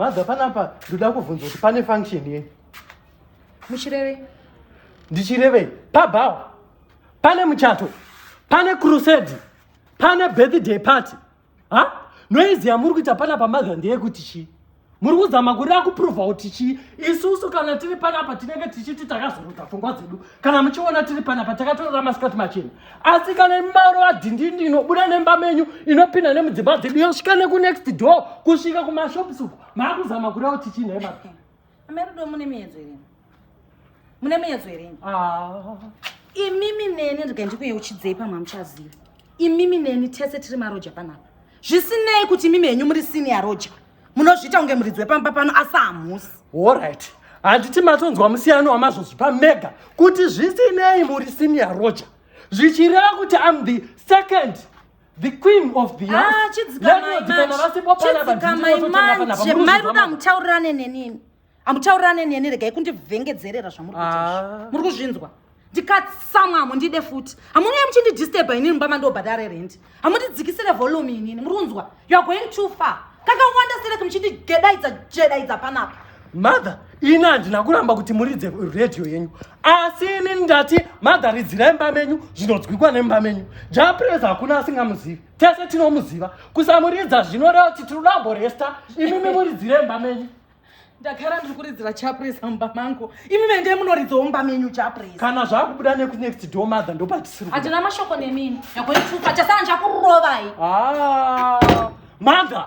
Mother, panapa ndoda kuvhunza kuti pane function ye. Muchireve. Ndichireve. Pabhawa. Pane muchato. Pane crusade. Pane birthday party. ha noizi yamuri kuita pana pamaga ndeyekuti chii muri kuzama kureva kupruvha kuti chii isusu kana tiri panapa tinenge tichiti takazorota pfungwa dzedu kana muchiona tiri panapa takatorora masikati machena asi kana mimaro adhindindi inobuda nemba menyu inopinda nemudzimba dzedu yosvika nekunext door kusvika kumashops uku maakuzama kureva kuti chii nhaimaa Amai Rudo mune miyedzo here? Mune miyedzo here? Ah. Imimi neni rega ndikuyeuchidzei pamwe hamuchazivi. Imimi neni tese tiri maroja panapa. Zvisinei kuti imimi henyu muri senior roja. Munozviita kunge muridzi wepamba pano asi hamusi. All right. Handiti matonzwa musiyano wamazvozvi pamega kuti zvisinei muri senior roja. Zvichireva kuti I'm the second The queen of the house. Ah, chidzikamai manje. Chidzikamai manje. Mai ruda mutaurirane nenini. Amutaurirane neni regai kundivhengedzerera zvamuri kuita. Ah. Muri kuzvinzwa. ndikatsamwa hamundide futi hamunei muchindidisturba inini mumba mandobhadhare rent hamundidzikisire volume inini muri kunzwa youare going too far kakawanda sereki muchindigedaidza jedaidza panapa mother ini handina kuramba kuti muridze radio yenyu asi ini ndati mother ridzirai mba menyu zvinonzwikwa nemba menyu japres hakuna asingamuzivi tese tinomuziva kusamuridza zvinoreva kuti tiri dambo resta imimi muridzire mba menyu ndagara ndiri kuridzira chapres mumba mangu imi mende munoridzawo mumba menyu chapres kana zvakubuda nekunext door mother ndopatisiri handina mashoko nemini yakoitupa chasana chakurovai ah, mother